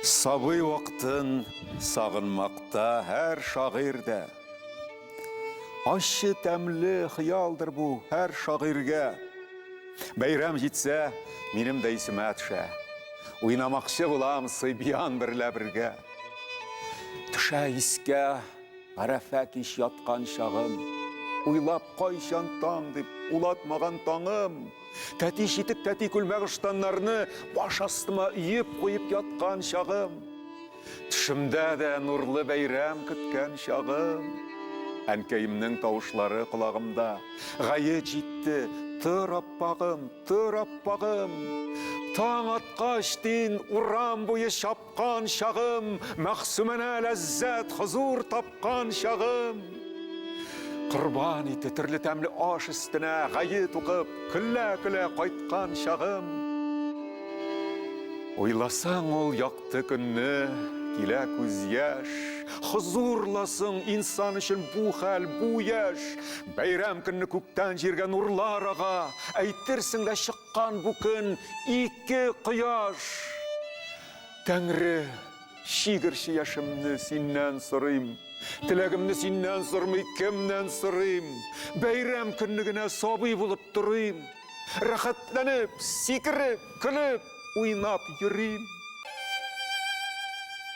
Сабый вакытын сагынмакта һәр шагыйрь дә. Ащы тәмле хыялдыр бу һәр шагыйрьгә. Бәйрәм җитсә, минем дә исемә төшә. Уйнамакчы булам сыйбиян берлә бергә. Төшә искә Гарәфә кич яткан чагым. Уйлап кайчан таң дип, улатмаган таңым. Тәти читек, тәти күлмәк ыштаннарны Баш астыма өеп куеп яткан чагым. Төшемдә дә нурлы бәйрәм көткән чагым. Әнкәемнең тавышлары колагымда, Гаед җитте, тор аппагым, тор аппагым. Таң аткач, дин, урам буе чап. Кан чагым, Мәгъсүмәнә ләззәт, хозур тапкан чагым. Корбан ите, төрле тәмле аш өстенә гает укып, көлә-көлә кайткан чагым. Уйласаң ул якты көнне, килә күз яшь. Хозурлы соң инсан өчен бу хәл, бу яшь. Бәйрәм көнне күктән җиргә нурлар ага, әйтерсең дә чык. Кан бу көн ике кояш. Тәңре, чигерче яшемне синнән сорыйм. Теләгемне синнән сормый, кемнән сорыйм? Бәйрәм көнне генә сабый булып торыйм. Рәхәтләнеп, сикереп, көлеп, уйнап йөрим.